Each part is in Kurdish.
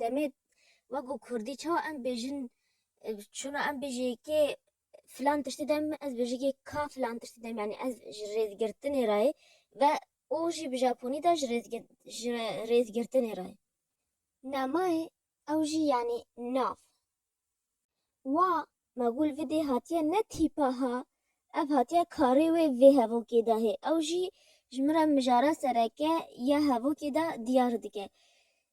Demê we ku kurdî çawa em bêjin çuna em bêjê kê filan tiştî dem ez bêjê kê ka filan tiştî dem yanî ez ji rêzgirtinê re yê ve û jî bi japonî de ji rêzgirtinê re yê. Namay ew jî yanî nav. Wa me gul vidê hatiye ne tîpa ha ev hatiye karê wê vê hevokê de hê ew jî ji min re mijara sereke ya hevokê de diyar dike.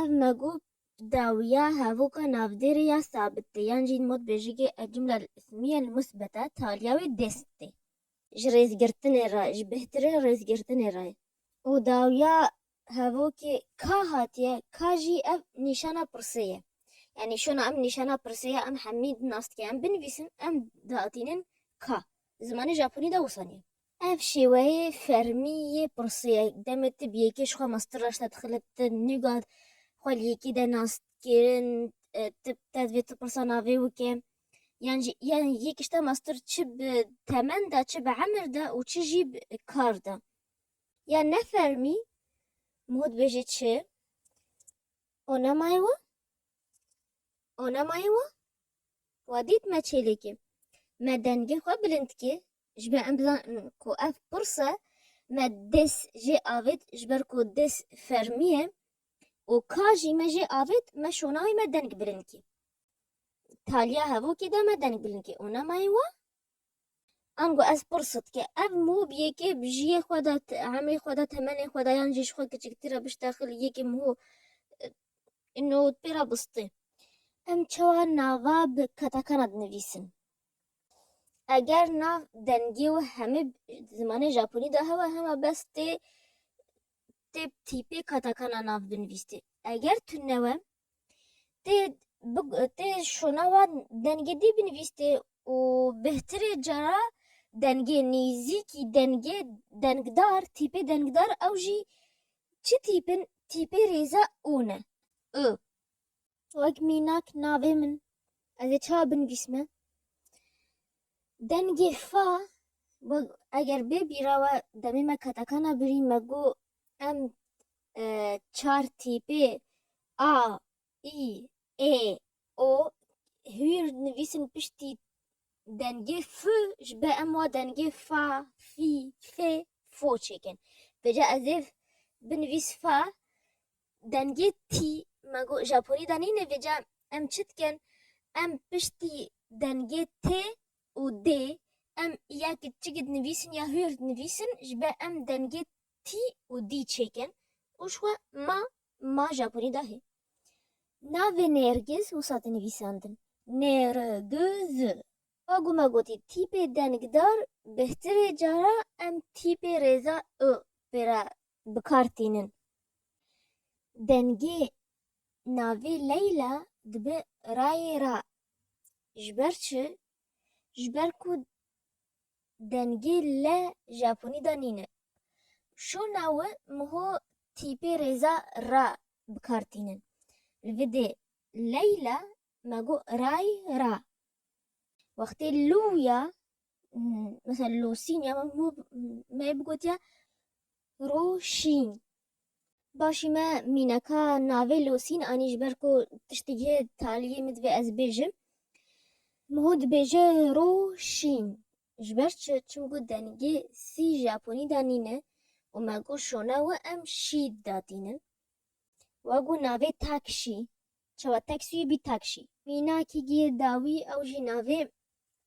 Ev me got dawiya hevûka navdêrê ya sabit tê yan jî modbêjigê El-Cumle El-Îsmîye El-Musbete taliya wê dêst tê. Ji rêzgirtinê re, ji bêhtirê rêzgirtinê re ye. Û dawiya hevokê ka hatiye, ka jî ev nîşana pirsê ye. Yanî şona em nîşana pirsê ya em hemî di nas dike em binivîsin em diatînin ka. Di zimanê Japonî de wisa niye. Ev şêweyê fermî yê pirsê ye. Demê te bi yekê ji xwe mastir raşte dixile te nîga xwe li yekê de nas kirin te te divê tu pirsa navê wike yan jî yan yek tişta mastir çi bi temen de çi bi emir de û çi jî bi kar de yan ne fermî mod bêje çi o nemayê we o nemayê we wa dît me çêlekê me dengê xwe bilind kê Ji ber em bizanin ku ev pirs e, me des jê avêt ji ber ku des fermî ye û ka jî me jê avêt me şona wî me deng bilinkî. Taliya hevokê de me deng bilinkî û nemayê we. Ango ez pirs dike ev mû bi yekê bi jiyê xwe de emrê xwe de temenê xwe de yan jî ji xwe kiçiktir e bişte xil yekê mû ino pê re bistê. Em çawa nava bi katakana dinivîsin? Eger nav dengê we hemê zimanê Japonî de hewa hema bes tê tê tîpê katakana nav binivîstê. Eger tu newe tê tê şona wan dengê dî binivîstê û bêhtirê cara dengê nêzîkî dengê dengdar tîpê dengdar ew jî çi tîp in tîpê rêze û ne. I. Wek mînak navê min ez ê çawa binivîsme? Dengê fa eger bê bîra we demê me katakana birî me got em e, çar tîpê A, İ, E, O hûyr nivîsin piştî dengê F ji be em wa dengê fa, fî, fê, fo çêkin. Vêca ez ê binivîs fa Dengê tî me got Japonî de nênêvêje em çi dikin? Em piştî dengê T û D em ya kitçikî dinivîsin ya hûyr dinivîsin ji ber em dengê T û D çêkin û ji xwe ma ma Japonî de hê. Navê Nêrgiz wisa dinivîsandin Nêriguz. Pa ku me gotî tîpê dengdar bihtir ê cara em tîpê rêza u pê re bi kar tînin. Dengê navê Leyla dibe rayê ra ji ber çi? Ji ber ku dengê le japonî de nîne. Şona we miho tîpê rêza ra bi kar tînin. Li vê dê Leyla me got ray ra. Wextê lû ya mesela losîn ya me bigotiye roşîn. Başî me mîneka navê losîn anî ji ber ku tiştekî taliyê min divê ez bêjim. Min hûn dibêje roşîn. Ji ber çi? Çimku dengê sî Japonî de nîne û me got şona we em şî datînin. We got navê takşî. Çawa taksî wî bî takşî. Mînakî giye dawî ew jî navê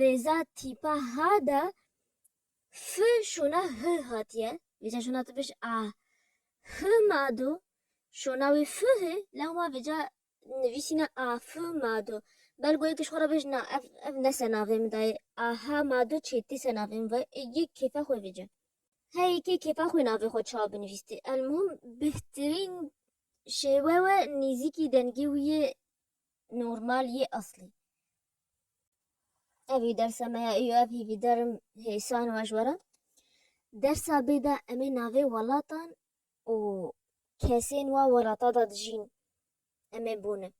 rêza tîpa ha de F şûna H hatiye. Vêca şûna tu bêj A. H ma do. Şûna wî F hê. Lewma vêca nivîsîne A F ma do. Belgo yekiş xwe re bêj na ev ev ne senavê min dayê. A H ma do çê tê senavê min vayê. Ê yek kêfa xwe vêce. He yekê kêfa xwe navê xwe çawa binivîstê. Elmuhim bihtirîn şêwe we nîzîkî dengê wî yê normal yê eslî. Evî dersa me ya û ev hîvî derim hêsan we ji we re. Dersa bê de em ê navê welatan û kesên wa welata de dijîn em ê bone.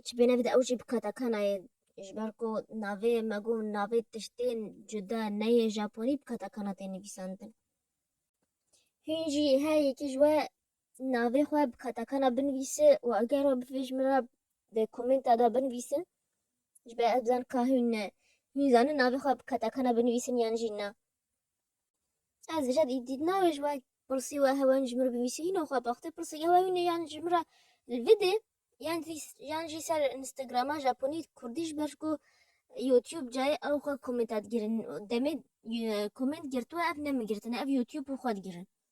Çi bên evî de ew jî bi katakana ye ji ber ku navê me got navê tiştên cuda neyê japonî bi katakana tê nivîsandin. Hûn jî her yekî ji we navê xwe bi qetakana binivîse û eger we bivê ji min re di komenta de binivîse ji ber ez bizanim ka hûn hûn zanin navê xwe bi qetakana binivîsin yan jî na. Ez dije dît navê ji we pirsî we hewa hûn ji min re binivîsî hîna xwe baxtê pirsî hewa hûn ê yan ji min re li vidê yan jî yan jî ser Instagrama Japonî Kurdî ji ber ku YouTube cayê ew xwe komenta digirin demê koment girtû ev ne min girtine ev YouTube û xwe digirin.